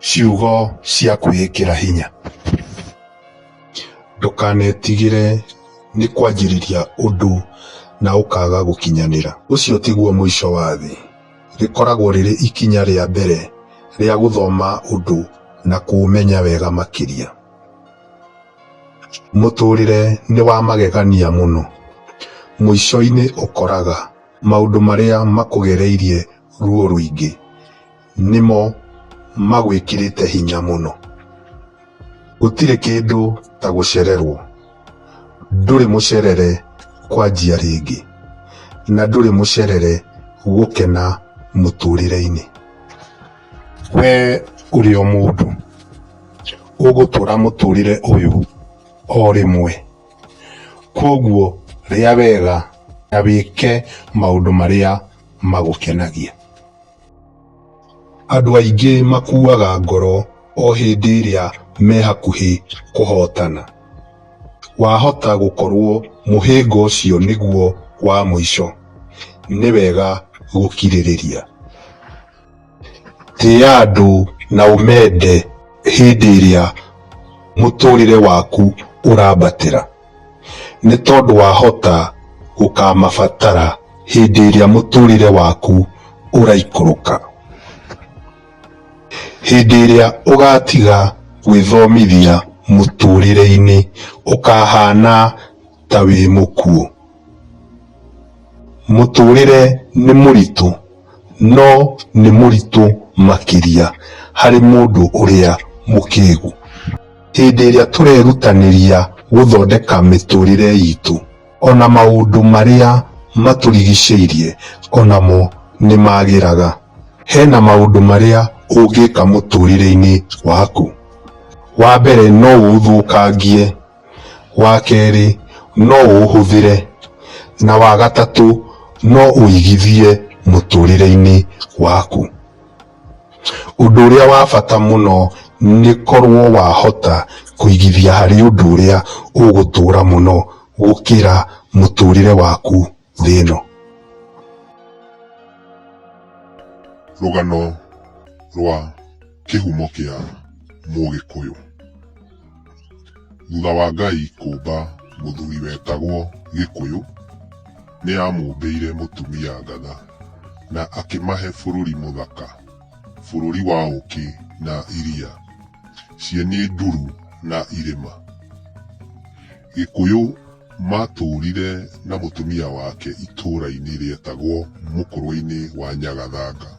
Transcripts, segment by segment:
Ciugo cia kwĩĩkĩra hinya. Ndũkanetigĩre nĩ kwanjĩrĩria ũndũ na ũkaga gũkinyanĩra. Ũcio tiguo mũico wa thĩ. Rĩkoragwo rĩrĩ ikinya rĩa mbere rĩa gũthoma ũndũ na kũũmenya wega makĩria. Mũtũrĩre nĩ wa magegania mũno. Mũico-inĩ ũkoraga maũndũ marĩa makũgereirie ruo rũingĩ nĩmo magwĩkĩrĩte hinya mũno gũtirĩ kĩndũ ta gũcererwo ndũrĩ mũcerere kwanjia rĩngĩ na ndũrĩ mũcerere gũkena mũtũrĩre-inĩ we ũrĩ o mũndũ ũgũtũra mũtũrĩre ũyũ o rĩmwe kwoguo rĩa wega na wĩke maũndũ marĩa magũkenagia. Andũ aingĩ makuaga ngoro o hĩndĩ ĩrĩa me hakuhĩ kũhootana. Wahota gũkorũo mũhĩnga ũcio nĩguo wa mũico, nĩ wega gũkirĩrĩria. Tĩa andũ na ũmende hĩndĩ ĩrĩa mũtũrĩre waku ũrambatĩra, nĩ tondũ wahota gũkamabatara hĩndĩ ĩrĩa mũtũrĩre waku ũraikũrũka. Hĩndĩ ĩrĩa ũgatiga gwĩthomithia mũtũrĩre-inĩ ũkahana ta wĩ mũkuũ. Mũtũrĩre nĩ mũritũ, no nĩ mũritũ makĩria harĩ mũndũ ũrĩa mũkĩgu. Hĩndĩ ĩrĩa tũrerutanĩria gũthondeka mĩtũrĩre itũ, ona maũndũ marĩa matũrigicĩirie onamo nĩ magĩraga. Hena maũndũ marĩa ũngĩka mũtũrĩre-inĩ waku. Wa mbere no ũũthũkangie wa kerĩ no ũũhũthĩre, na wa gatatũ no ũigithie mũtũrĩre-inĩ waku. Ũndũ ũrĩa wa bata mũno nĩ korwo wahota kũigithia harĩ ũndũ ũrĩa ũgũtũra mũno gũkĩra mũtũrĩre waku thĩ ĩno. Rũgano rwa kĩhumo kĩa mũgĩkũyũ. Thutha wa Ngai kũmba mũthuri wetagwo gĩkũyũ, nĩ amũmbĩire mũtumia ngatha na akĩmahe bũrũri mũthaka, bũrũri wa ũkĩ na iria, ciĩ nĩ nduru na irĩma. Gĩkũyũ. Maatũũrire na mũtumia wake itũũra-inĩ rĩetagwo Mũkũrũe-inĩ wa Nyagathanga,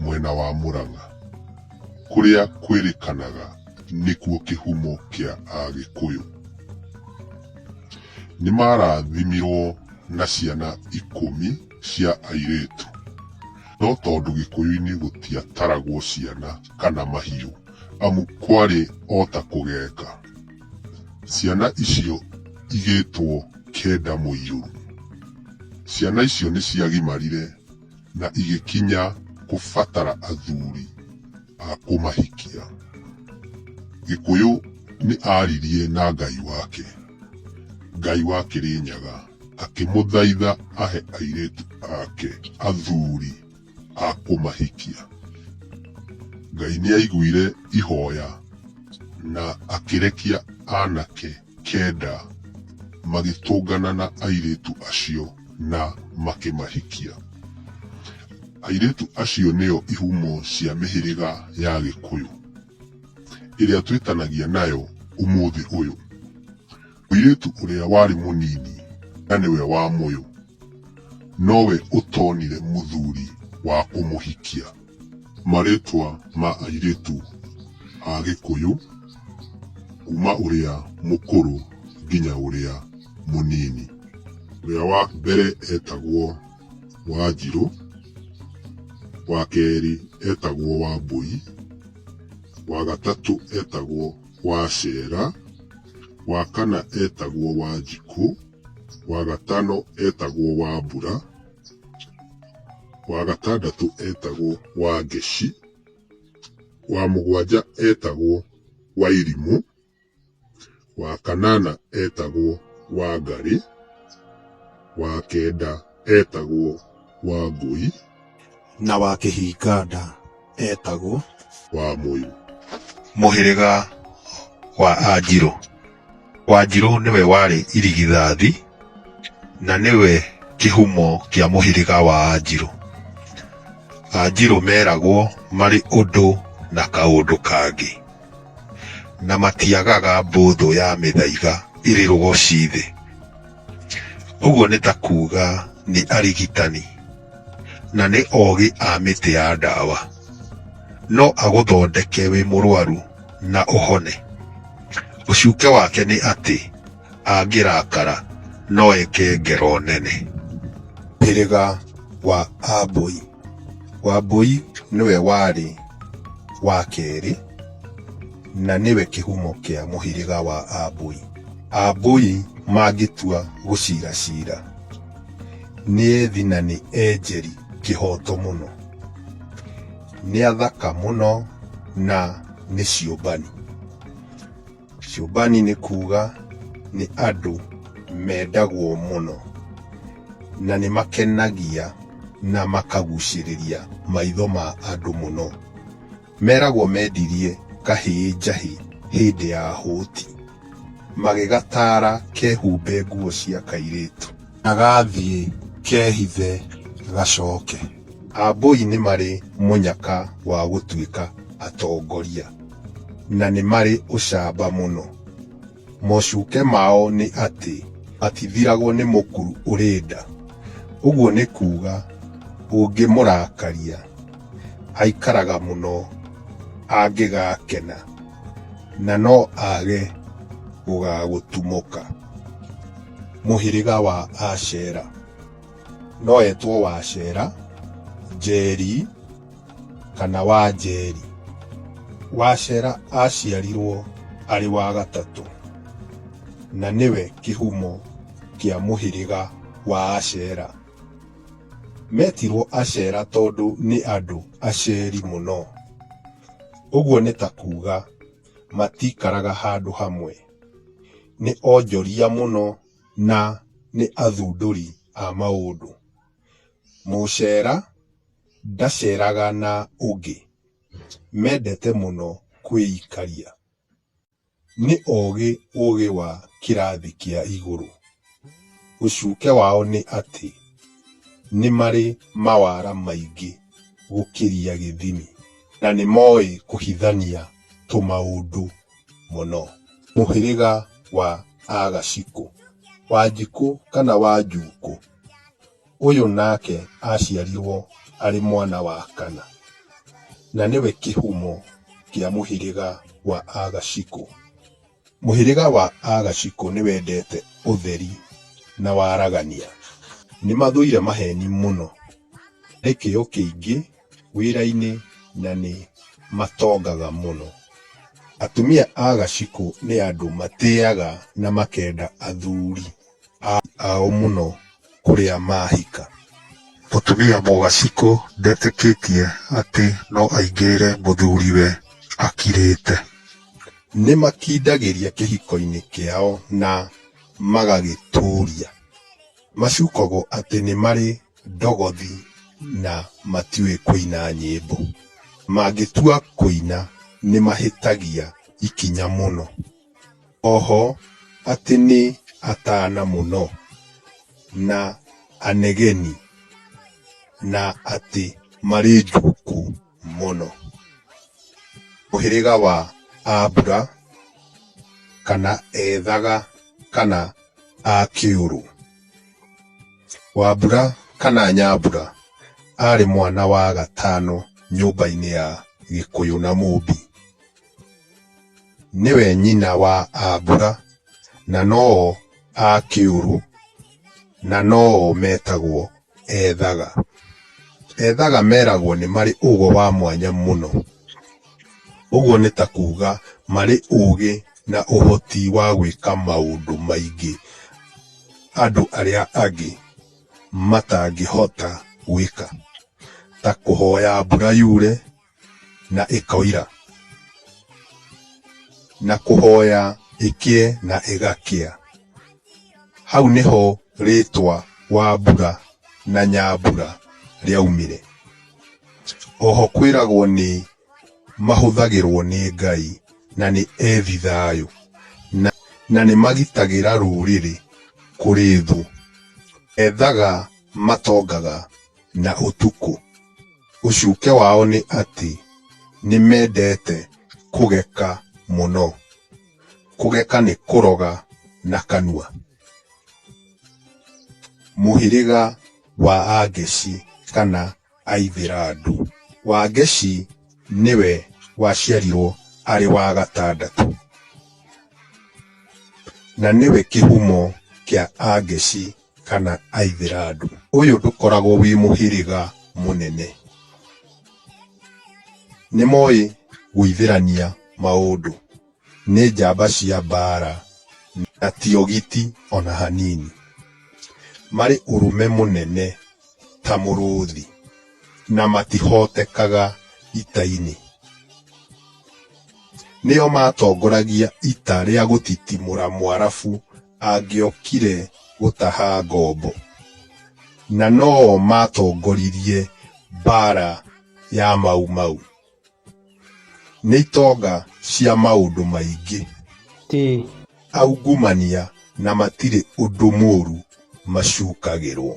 mwena wa Mũrang'a, kũrĩa kwĩrĩkanaga nĩkuo kĩhumo kĩa Agĩkũyũ. Nĩ maarathimirũo na ciana ikũmi cia airĩtu. No tondũ Gĩkũyũ-inĩ gũtiataragwo ciana kana mahiũ, amu kwarĩ o ta kũgeka. Ciana icio igĩtwo Keda Mũirũru. Ciana icio nĩ ciagimarire na igĩkinya kũbatara athuri a kũmahikia. Gĩkũyũ nĩ aaririe na Ngai wake. Ngai wa Kĩrĩnyaga akĩmũthaitha ahe airĩtu ake athuri. a kũmahikia. Ngai nĩ aiguire ihoya na akĩrekia anake kenda magĩtũngana na airĩtu acio na makĩmahikia. Airĩtu acio nĩo ihumo cia mĩhĩrĩga ya Gĩkũyũ ĩrĩa twĩtanagia nayo ũmũthĩ ũyũ. Mũirĩtu ũrĩa warĩ mũnini na nĩwe wa mũyũ nowe ũtonire mũthuri wa kũmũhikia. Marĩtwa ma airĩtu a Gĩkũyũ kuma ũrĩa mũkũrũ nginya ũrĩa mũnini. Ũrĩa wa mbere etagwo Wanjirũ, wa kerĩ etagwo Wambũi, wa gatatũ etagwo. Wacera, wa kana etagwo Wanjikũ, wa gatano etagwo Wambura, wa gatandatũ etagwo Wangeci, wa mũgwanja etagwo Wairimũ, wa kanana etagwo Wangarĩ, wa kenda etagwo Wangũi. Na wa Kĩhinganda eetagwo. Wa Mũyũ. Mũhĩrĩga wa Anjirũ. Wanjirũ nĩwe warĩ irigithathi na nĩwe kĩhumo kĩa mũhĩrĩga wa Anjirũ. Anjirũ meragwo marĩ ũndũ na kaũndũ kangĩ, na matiagaga mbũthũ ya mĩthaiga ĩrĩ rũgocii thĩ. Ũguo nĩ ta kuuga nĩ arigitani na nĩ ogĩ a mĩtĩ ya ndawa. No agũthondeke wĩ mũrwaru na ũhone. Ũcuke wake nĩ atĩ angĩrakara no eke ngero nene. Hĩrĩga wa Ambũi. Wambũi nĩwe warĩ wa kerĩ na nĩwe kĩhumo kĩa mũhĩrĩga wa Ambũi. Ambũi mangĩtua gũcira cira, nĩ ethi na nĩ enjeri kĩhoto mũno. Nĩ athaka mũno na nĩ ciũmbani. Ciũmbani nĩ kuuga nĩ andũ mendagwo mũno na nĩ makenagia na makagucĩrĩria maitho ma andũ mũno. Meragwo mendirie kahĩĩ njahĩ hĩndĩ ya hũti, magĩgataara kehumbe nguo cia kairĩtu. Na gathiĩ kehithe gacoke. Ambũi nĩ marĩ mũnyaka wa gũtuĩka atongoria. na nĩ marĩ ũcamba mũno. Mocuke mao nĩ atĩ matithiragwo nĩ mũkuru ũrĩ nda. Ũguo nĩ kuuga ũngĩmũrakaria aikaraga mũno angĩgakena na no age gũgagũtumũka. Mũhĩrĩga wa Ashera. No etwo Wacera, Njeri, kana Wanjeri. Wacera aaciarirwo arĩ wa gatatũ na nĩwe kĩhumo kĩa mũhĩrĩga wa Acera. Metirwo Acera tondũ nĩ andũ aceri mũno. Ũguo nĩ ta kuuga matiikaraga handũ hamwe. Nĩ onjoria mũno na nĩ athundũri a maũndũ. Mũcera Ndaceraga na ũngĩ. Mendete mũno kwĩikaria. Nĩ ogĩ ũgĩ wa kĩrathi kĩa igũrũ. Ũcuke wao nĩ atĩ nĩ marĩ mawara maingĩ gũkĩria gĩthimi. Na nĩ moĩ kũhithania tũmaũndũ mũno. Mũhĩrĩga wa Agacikũ. Wanjikũ kana Wanjuukũ. Ũyũ nake aaciarirwo arĩ mwana wa kana, na nĩwe kĩhumo kĩa mũhĩrĩga wa Agacikũ. Mũhĩrĩga wa Agacikũ nĩwendete ũtheri na waragania. Nĩmathũire maheni mũno, marĩ kĩo kĩingĩ wĩra-inĩ na nĩ matongaga mũno. Atumia a Gacikũ nĩ andũ matĩaga na makenda athuri. a, ao mũno kũrĩa maahika. Mũtumia mũgacikũ ndetĩkĩtie atĩ no aingĩrĩre mũthuriwe akirĩte. Nĩ makindagĩria kĩhiko-inĩ kĩao na magagĩtũũria. Macukagwo atĩ nĩ marĩ ndogothi na matiũĩ kũina nyĩmbo. Mangĩtua kũina nĩ mahĩtagia ikinya mũno. oho atĩ nĩ atana mũno, na anegeni, na atĩ marĩ njũku mũno. Mũhĩrĩga wa Abura, kana ethaga, kana akĩũrũ. Wambura kana Nyambura arĩ mwana wa gatano nyũmba-inĩ ya Gĩkũyũ na Mũmbi. Nĩwe nyina wa a mbura, na no-o a kĩũrũ, na no-o metagwo ethaga. Ethaga meragwo nĩ marĩ ũgo wa mwanya mũno. Ũguo nĩ ta kuga marĩ ũgĩ na ũhoti wa gwĩka maũndũ maingĩ andũ arĩa angĩ matangĩhota gwĩka. Ta kũhoya mbura yure. na ĩkoira, na kũhoya ĩkĩe na ĩgakĩa. Hau nĩho rĩtwa Wambura na Nyambura rĩaumire. Oho kwĩragwo nĩ mahũthagĩrwo nĩ Ngai na nĩ ethi thayũ na nĩ magitagĩra rũrĩrĩ kũrĩ thũ. Ethaga matongaga na ũtukũ. Ũcuke wao nĩ atĩ nĩ mendete kũgeka mũno. Kũgeka nĩ kũroga na kanua. Mũhĩrĩga wa Angeci kana Aithĩrandu. Wangeci nĩwe waciarirwo arĩ wa gatandatũ. Na nĩwe kĩhumo kĩa Angeci. kana Aithĩrandu. Ũyũ ndũkoragwo wĩ mũhĩrĩga mũnene. Nĩ moĩ gũithĩrania maũndũ. Nĩ njamba cia mbaara na ti ogiti o na hanini. Marĩ ũrũme mũnene ta mũrũthi na matihotekaga ita-inĩ. Nĩo maatongoragia ita rĩa gũtitimũra Mũarabu. angĩokire gũtaha ngombo, na no o maatongoririe mbaara ya Mau Mau. Nĩ itonga cia maũndũ maingĩ. Ti. Aungumania na matirĩ ũndũ mũũru macukagĩrwo.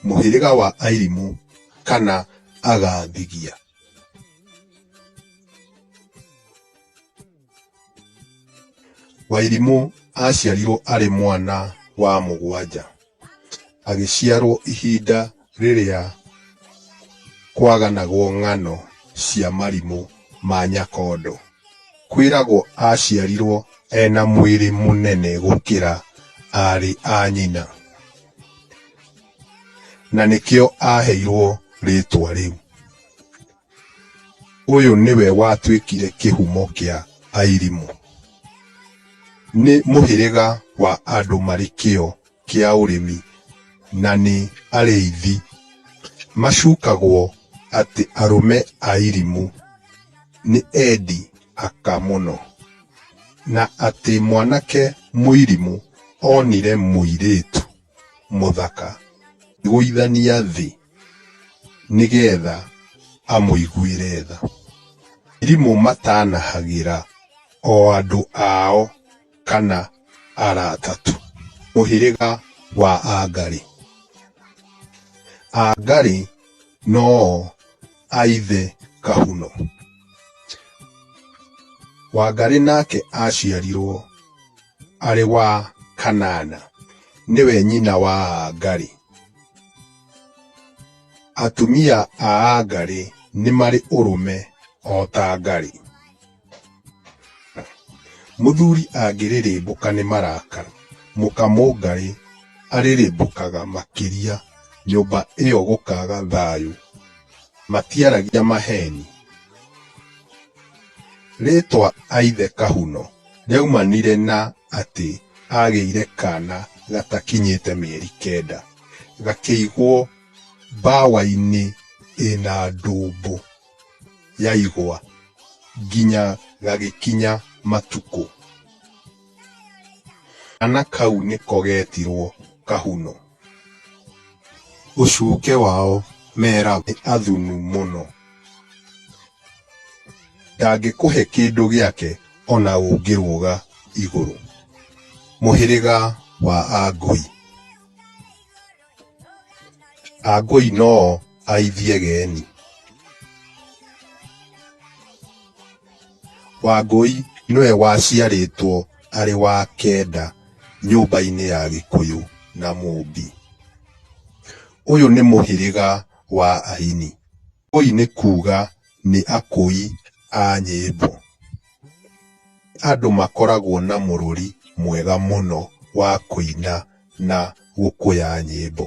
Mũhĩrĩga wa Airimu kana Agathigia. Wairimũ aaciarirwo arĩ mwana wa mũgwanja. Agĩciarwo ihinda rĩrĩa kwaganagwo ng'ano cia marimũ ma Nyakondo. Kwĩragwo aaciarirwo ena mwĩrĩ mũnene gũkĩra aarĩ a nyina. Na nĩkĩo aaheirwo rĩtwa rĩu. Ũyũ nĩwe watuĩkire kĩhumo kĩa Airimu. Nĩ mũhĩrĩga wa andũ marĩ kĩo kĩa ũrĩmi na nĩ arĩithi. Macukagwo atĩ arũme a Airimu nĩ endi aka mũno na atĩ mwanake Mũirimu onire mũirĩtu mũthaka gũithania thĩ nĩgetha amũiguĩre tha. Arimũ matanahagĩra o andũ ao kana arata tu. Mũhĩrĩga wa Angarĩ. Angarĩ no o a ithe Kahuno. Wangarĩ nake aciarirwo. arĩ wa Kanana nĩwe nyina wa Aangari. Atumia a Aangari nĩ marĩ ũrũme o ta Ngari. Mũthuri angĩrĩrĩmbũka nĩ marakara, mũkamũngarĩ arĩrĩmbũkaga makĩria nyũmba ĩyo gũkaga thayũ. Matiaragia maheni. Rĩtwa Aithe Kahuno Yaumanire na atĩ agĩire kana gatakinyĩte mĩeri kenda, gakĩigwo mbawa-inĩ ĩna ndũmbũ ya igwa nginya gagĩkinya matukũ. Kana kau nĩko getirwo Kahuno. Ũcuke wao meragwo nĩ athunu mũno. Ndangĩkũhe kĩndũ gĩake o na ũngĩrũga igũrũ. Mũhĩrĩga wa Angũi. Angũi noo aithie geni. Wangũi nĩwe waciarĩtwo arĩ wa kenda nyũmba-inĩ ya Gĩkũyũ na Mũmbi. Ũyũ nĩ mũhĩrĩga wa Aini. Akũi nĩ kuuga nĩ akũi a nyĩmbo. Andũ makoragwo na mũrũri mwega mũno wa kũina na gũkũya nyĩmbo.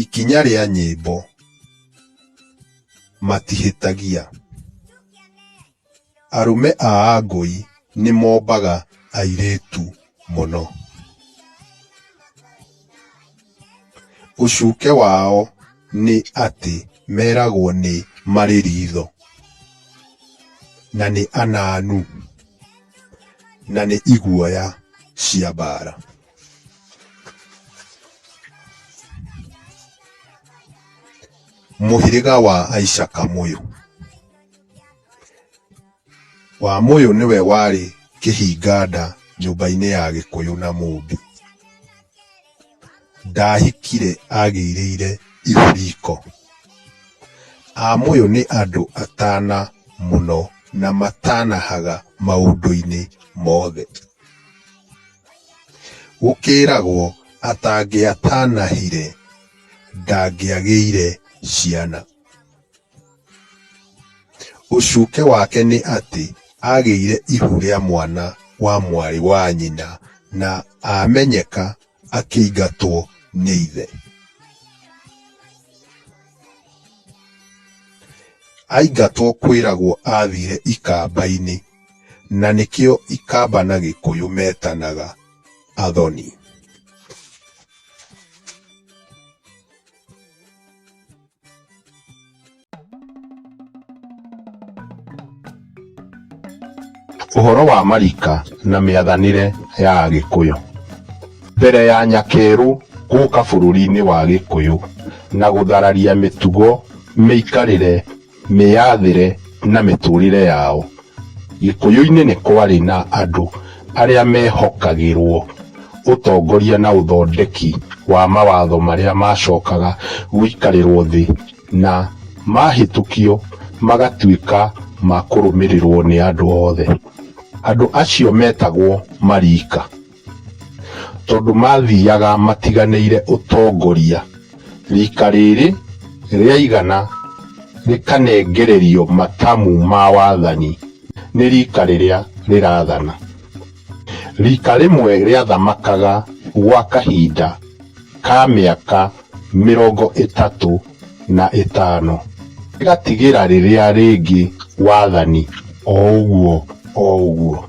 Ikinya rĩa nyĩmbo, matihĩtagia. Arũme a Angũi nĩ mombaga airĩtu mũno. Ũcuke wao nĩ atĩ meragwo nĩ marĩ ritho, na nĩ ananu, na nĩ iguoya cia mbaara. Mũhĩrĩga wa Aicakamũyũ. Wamũyũ nĩwe warĩ kĩhinganda nyũmba-inĩ ya Gĩkũyũ na Mũmbi. Ndahikire agĩirĩire ihu riko. Amũyũ nĩ andũ atana mũno na matanahaga maũndũ-inĩ mothe. Gũkĩragwo atangĩatanahire ndangĩagĩire ciana. Ũcuke wake nĩ atĩ aagĩire ihu rĩa mwana wa mwarĩ wa nyina na aamenyeka akĩingatwo nĩ ithe. Aingatwo kwĩragwo aathiire ikamba-inĩ na nĩkĩo ikamba na gĩkũyũ metanaga athoni. Ũhoro wa marika na mĩathanĩre ya Agĩkũyũ. Mbere ya Nyakerũ gũka bũrũri-inĩ wa Gĩkũyũ na gũthararia mĩtugo, mĩikarĩre, mĩyathĩre na mĩtũrĩre yao, Gĩkũyũ-inĩ nĩ kwarĩ na andũ arĩa meehokagĩrũo ũtongoria na ũthondeki wa mawatho marĩa maacokaga gũikarĩrũo thĩ na mahĩtũkio magatuĩka ma kũrũmĩrĩrũo nĩ andũ othe. Andũ acio meetagwo Mariika. Tondũ maathiaga matiganĩire ũtongoria, riika rĩrĩ rĩaigana rĩkanengererio matamu ma wathani nĩ riika rĩrĩa rĩrathana. Riika rĩmwe rĩathamakaga gwa kahinda ka mĩaka mĩrongo ĩtatũ. na ĩtano ĩgatigĩra rĩrĩa rĩngĩ wathani oũguo oũguo.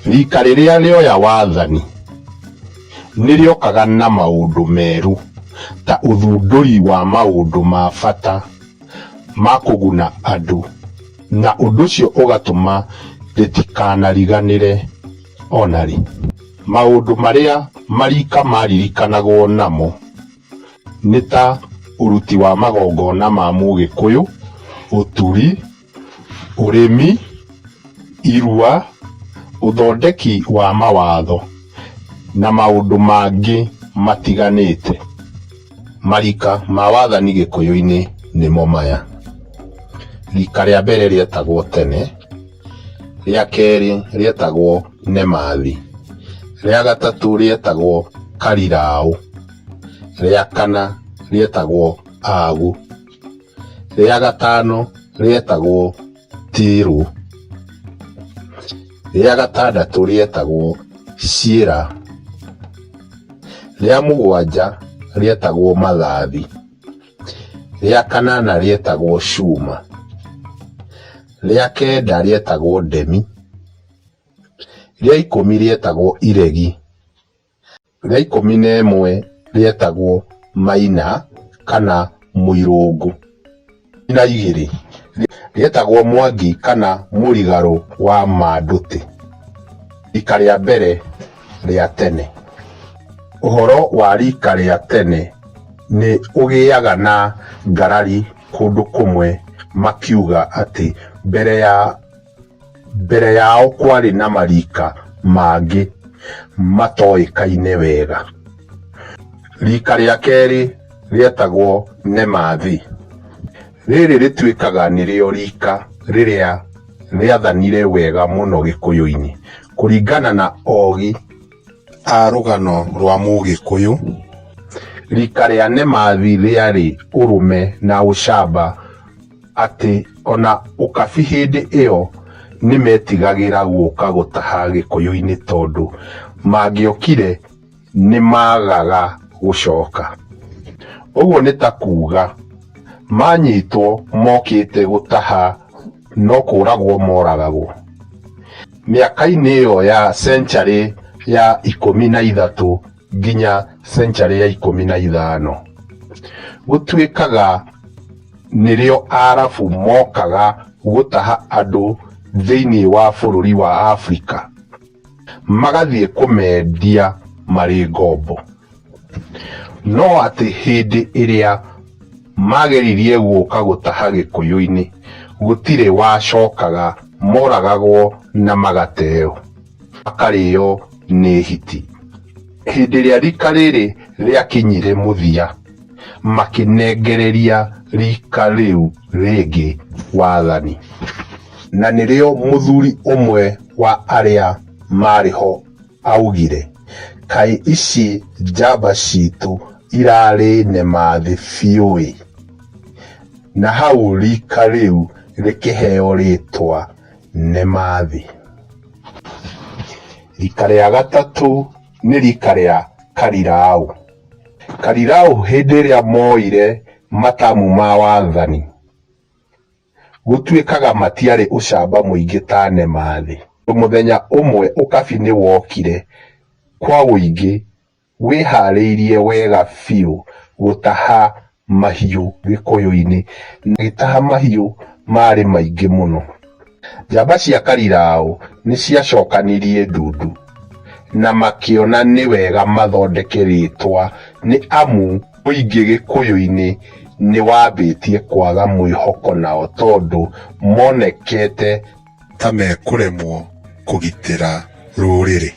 Rika rĩrĩa rĩoya wathani nĩrĩokaga na maũndũ merũ ta ũthundũri wa maũndũ ma bata ma kũguna andũ na ũndũ ũcio ũgatũma rĩtikanariganĩre ona rĩ. Maũndũ marĩa marika maririkanagwo namo nĩ ta ũruti wa magongona ma mũgĩkũyũ, ũturi, ũrĩmi, irua, ũthondeki wa mawatho na maũndũ mangĩ matiganĩte. Marika ma wathani gĩkũyũ-inĩ nĩmo maya, rika rĩa mbere rĩetagwo tene, rĩa kerĩ rĩetagwo nemathi, rĩa gatatũ rĩetagwo kariraũ. rĩa kana rĩetagwo Agu, rĩa gatano rĩetagwo Tirũ, rĩa gatandatũ rĩetagwo Ciĩra, rĩa mũgwanja rĩetagwo Mathathi, rĩa kanana rĩetagwo Cuma, rĩa kenda rĩetagwo Ndemi, rĩa ikũmi rĩetagwo Iregi. rĩa ikũmi na ĩmwe rĩetagwo Maina kana Mũirũngũ. Na igĩrĩ rĩetagwo Mwangi kana Mũrigarũ wa Mandũtĩ. Rika rĩa mbere rĩa tene. Ũhoro wa rika rĩa tene nĩ ũgĩaga na ngarari kũndũ kũmwe makiuga atĩ mbere ya... Mbere yao kwarĩ na marika mangĩ matoĩkaine wega. Rika rĩa kerĩ rĩetagwo Nemathi. Rĩrĩ rĩtuĩkaga nĩrĩo rika rĩrĩa rĩathanire wega mũno Gĩkũyũ-inĩ kũringana na Ogi A rũgano rwa mũgĩkũyũ. Rika rĩa Nemathi rĩarĩ ũrũme na ũcamba atĩ ona ũkabi hĩndĩ ĩyo nĩmetigagĩra gũka gũtaha gĩkũyũ-inĩ tondũ mangĩokire nĩmagaga gũcoka. Ũguo nĩ ta kuga manyitwo mokĩte gũtaha. no kũragwo moragagwo. Mĩaka-inĩ ĩyo ya century ya ikũmi na ithatũ nginya century ya ikũmi na ithano, gũtuĩkaga nĩrĩo Arabu mokaga gũtaha andũ thĩinĩ wa bũrũri wa Afrika. magathiĩ kũmendia marĩ ngombo. No atĩ hĩndĩ ĩrĩa mageririe gũka gũtaha Gĩkũyũ-inĩ, gũtirĩ wacokaga, moragagwo na magateo, makarĩo nĩ hiti. Hĩndĩ ĩrĩa rika rĩrĩ rĩakinyire mũthia. makĩnengereria rika rĩu rĩngĩ wathani. Na nĩrĩo mũthuri ũmwe wa arĩa maarĩ ho aaugire, Kaĩ ici njamba citũ irarĩ nema thĩ biũ-ĩ! Na hau rika rĩu rĩkĩheo rĩtwa nema thĩ. Rika rĩa gatatũ nĩ rika rĩa Kariraũ. Karirau hĩndĩ ĩrĩa mooire matamu ma wathani, gũtuĩkaga matiarĩ ũcamba mũingĩ ta Nemathi. Mũthenya ũmwe ũkabi nĩ wokire kwa ũingĩ wĩharĩirie wega biũ gũtaha mahiũ gĩkũyũ-inĩ na gĩtaha mahiũ maarĩ maingĩ mũno. Njamba cia Kariraũ nĩ ciacokanirie ndundu na makĩona nĩ wega mathondeke rĩtwa nĩ amu mũingĩ gĩkũyũ-inĩ nĩ wambĩtie kwaga mwĩhoko nao tondũ monekete ta mekũremwo kũgitĩra rũrĩrĩ.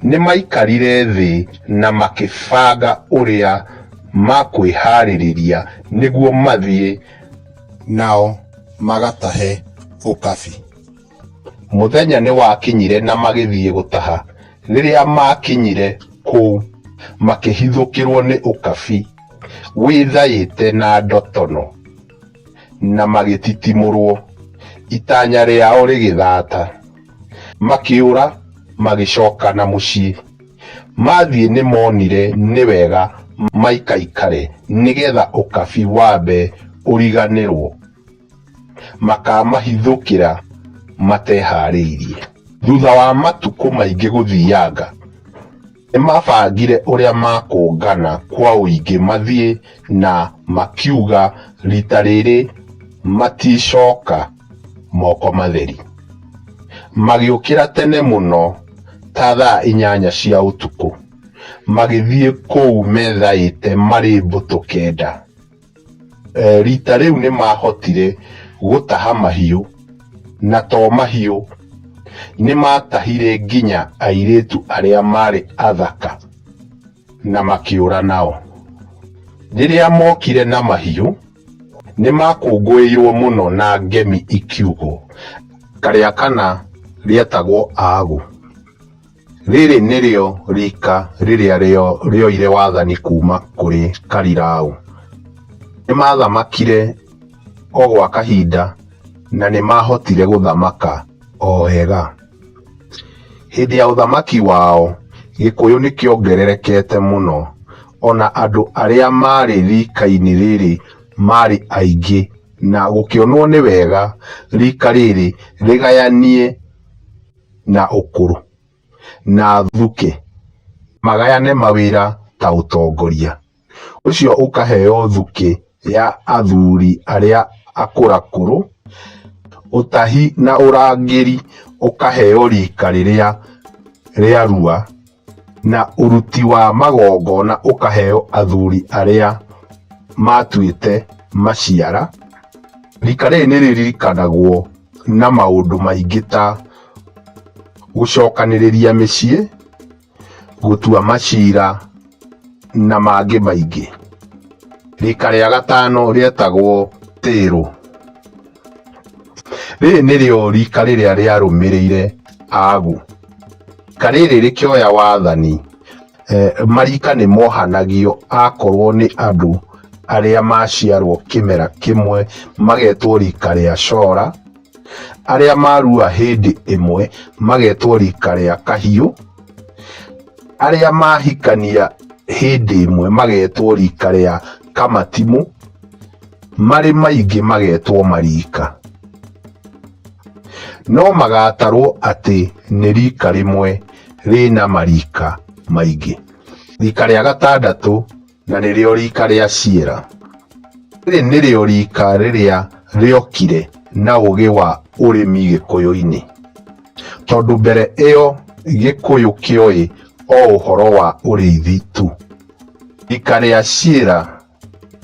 Nĩ maikarire thĩ na makĩbanga ũrĩa makwĩhaarĩria nĩguo mathiĩ. Nao magatahe ũkabi. Mũthenya nĩ wakinyire na magĩthiĩ gũtaha. Rĩrĩa maakinyire kũu, makĩhithũkĩrũo nĩ ũkabi wĩthaĩte na ndotono. na magĩtitimũrwo, itanya rĩao rĩgĩthaata, makĩũra magĩcoka na mũciĩ. Mathiĩ nĩmoonire nĩ wega maikaikare nĩgeetha ũkabi wambe ũriganĩrwo, makaamahithũkĩra matehaarĩirie. Thuutha wa matukũ maingĩ gũthianga, Nĩmabangire ũrĩa makũngana kwa ũingĩ mathiĩ na makiuga rita rĩrĩ maticoka moko matheri. Magĩũkĩra tene mũno ta thaa inyanya cia ũtukũ magĩthiĩ kũu methaĩte marĩ mbũtũ kenda. Eh, rita rĩu nĩ maahotire gũtaha mahiũ, na to mahiũ, nĩ maatahire nginya airĩtu arĩa maarĩ athaka na makĩũra nao. Rĩrĩa mookire na mahiũ, nĩ maakũngũĩirũo mũno na ngemi ikiugwo, Karĩa kana rĩetagwo Aagũ. Rĩrĩ nĩrĩo riika rĩrĩa rĩo rĩoire wathani kuuma kũrĩ Karirau. Nĩmathamakire o gwa kahinda na nĩmahotire gũthamaka o wega. Hĩndĩ ya ũthamaki wao, Gĩkũyũ nĩkĩongererekete mũno, ona andũ arĩa maarĩ riika-inĩ rĩrĩ maarĩ aingĩ na gũkĩonwo nĩ wega riika rĩrĩ rĩgayanie. na ũkũrũ na thuke magayane mawĩra ta ũtongoria. Ũcio ũkaheo thuke ya athuri arĩa akũrakũrũ, ũtahi na ũrangĩri ũkaheo rika rĩrĩa rĩarua. Na ũruti wa magongona ũkaheo athuri arĩa maatuĩte maciara. Riika rĩrĩ nĩ rĩririkanagwo na maũndũ maingĩ ta gũcokanĩrĩria mĩciĩ, gũtua macira na mangĩ maingĩ. Riika rĩa gatano rĩetagwo tĩrũ. Rĩrĩ nĩrĩo riika rĩrĩa rĩarũmĩrĩire agu. Rika rĩrĩ rĩkĩoya wathani, eh, marika nĩ mohanagio akorwo nĩ andũ arĩa maciarwo kĩmera kĩmwe magetwo rika rĩa cora, arĩa marua hĩndĩ ĩmwe magetwo rika rĩa kahiũ, arĩa mahikania hĩndĩ ĩmwe magetwo rika rĩa kamatimũ, marĩ maingĩ magetwo mariika no magatarwo atĩ nĩ riika rĩmwe rĩna mariika maingĩ riika rĩa gatandatũ na nĩrĩo riika rĩa ciera rĩrĩ nĩrĩo riika rĩrĩa rĩokire na ũgĩ wa ũrĩmi gĩkũyũ-inĩ tondũ mbere ĩyo gĩkũyũ kĩoĩ o ũhoro wa ũrĩithi tu riika rĩa ciera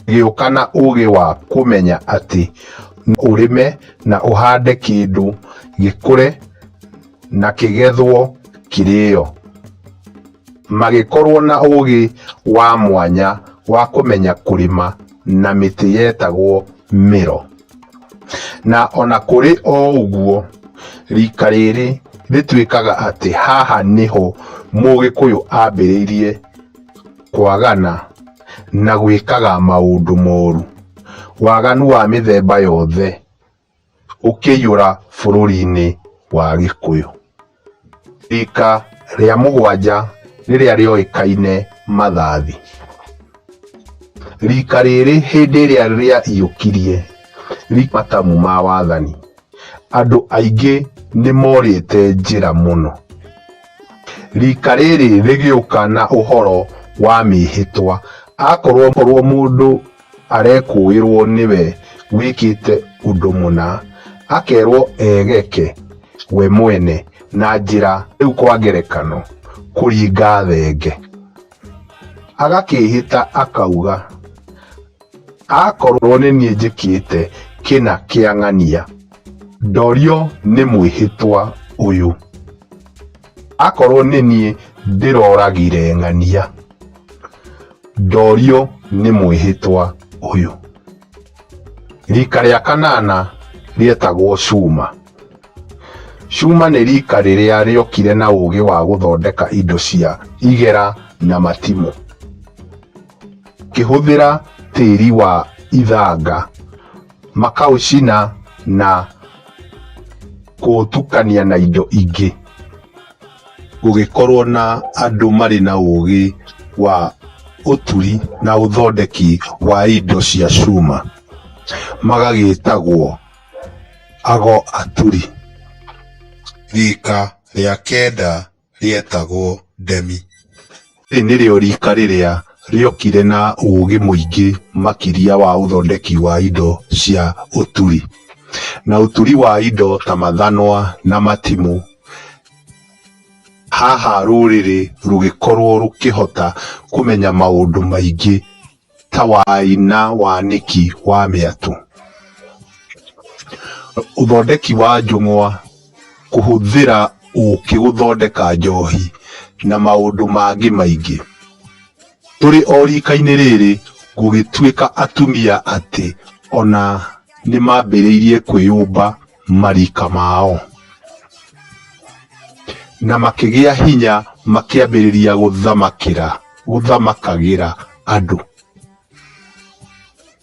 gĩũka na ũgĩ wa kũmenya atĩ no ũrĩme na ũhande kĩndũ gĩkũre na kĩgethwo kĩrĩo. Magĩkorwo na ũgĩ wa mwanya wa kũmenya kũrĩma na mĩtĩ yetagwo mĩro. Na ona kũrĩ o ũguo, rika rĩrĩ rĩtuĩkaga atĩ haha nĩho mũgĩkũyũ ambĩrĩirie. kwagana, na gwĩkaga maũndũ moru. Waganu wa mĩthemba yothe ũkĩiyũra bũrũri-inĩ wa Gĩkũyũ. Rika rĩa mũgwanja rĩrĩa rĩoĩkaine Mathathi. Rika rĩrĩ hĩndĩ ĩrĩa rĩaiyũkirie matamu ma wathani, andũ aingĩ nĩ morĩte njĩra mũno. Rika rĩrĩ rĩgĩũka na ũhoro wa mĩĩhĩtwa. Akorwo korwo mũndũ arekũĩrwo nĩwe wĩkĩte ũndũ mũna, akerwo egeke we mwene na njĩra rĩu kwa ngerekano kũringa thenge. Agakĩĩhĩta akauga. Akorwo nĩ niĩ njĩkĩte kĩna kĩa ng'ania, ndorio nĩ mwĩhĩtwa ũyũ. Akorwo nĩ niĩ ndĩroragire ng'ania, ndorio nĩ mwĩhĩtwa ũyũ. Rika rĩa kanana rĩetagwo Cuma. Cuma nĩ rika rĩrĩa rĩokire na ũgĩ wa gũthondeka indo cia igera na matimũ. ngĩhũthĩra tĩri wa ithanga makaũcina na kũũtukania na indo ingĩ. Gũgĩkorwo na andũ marĩ na ũgĩ wa ũturi na ũthondeki wa indo cia cuma magagĩtagwo ago aturi. Rika rĩa kenda. rĩetagwo Demi. Rĩrĩ nĩrĩo riika rĩrĩa rĩokire na ũũgĩ mũingĩ makĩria wa ũthondeki wa indo cia ũturi, na ũturi wa indo ta mathanwa na matimũ. Haha rũrĩrĩ rũgĩkorũo rũkĩhota kũmenya maũndũ maingĩ ta wai na wanĩki wa mĩatũ. Ũthondeki wa njũng'wa, kũhũthĩra ũkĩ gũthondeka njohi na maũndũ mangĩ maingĩ. Tũrĩ o rika-inĩ rĩrĩ gũgĩtuĩka atumia atĩ ona nĩmambĩrĩirie kwĩyũmba. marika mao. Na makĩgĩa hinya makĩambĩrĩria gũthamakĩra, gũthamakagĩra andũ.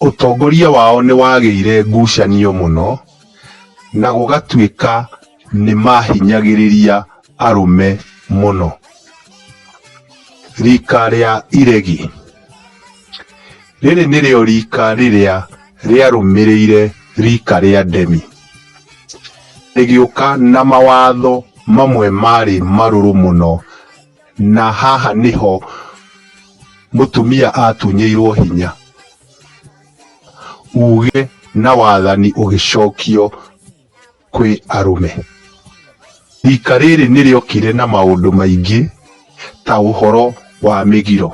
Ũtongoria wao nĩ wagĩire ngucanio mũno na gũgatuĩka nĩ maahinyagĩrĩria arũme mũno. Rika rĩa iregi. Rĩrĩ nĩrĩo riika rĩrĩa rĩarũmĩrĩire riika rĩa Demi. Rĩgĩũka na mawatho mamwe maarĩ marũrũ mũno, na haha nĩho mũtumia aatunyĩirwo hinya. Uuge na wathani ũgĩcokio. kwĩ arũme. Riika rĩrĩ nĩ rĩokire na maũndũ maingĩ ta ũhoro wa mĩgiro,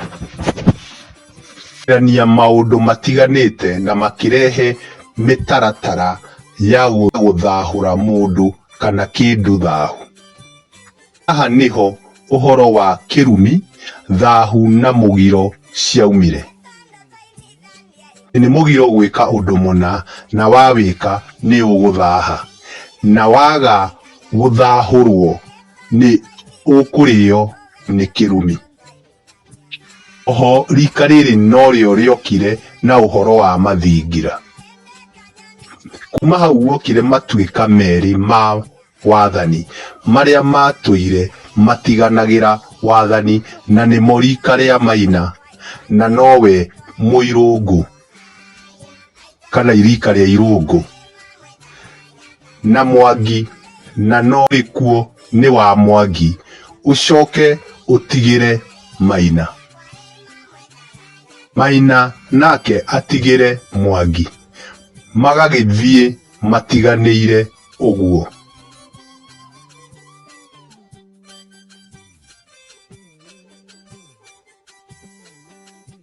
kũrutithania maũndũ matiganĩte na makĩrehe mĩtaratara ya gũthahũra mũndũ kana kĩndũ thahu. Haha nĩho ũhoro wa kĩrumi, thahu na mũgiro ciaumire. Nĩ mũgiro gwĩka ũndũ mũna na wawĩka nĩ ũgũthaha, na waga gũthahũrwo nĩ ũkũrĩo nĩ kĩrumi. Oho rika rĩrĩ norĩo rĩokire na ũhoro wa mathingira. Kuma hau guokire matuĩka merĩ ma wathani marĩa matũire matiganagĩra wathani na nĩmo rika rĩa Maina na nowe Mũirũngũ. kana irika rĩa irũngũ na mwangi na no gĩkuo nĩ wa mwangi ũcoke ũtigĩre maina maina nake atigĩre mwangi magagĩthiĩ matiganĩire ũguo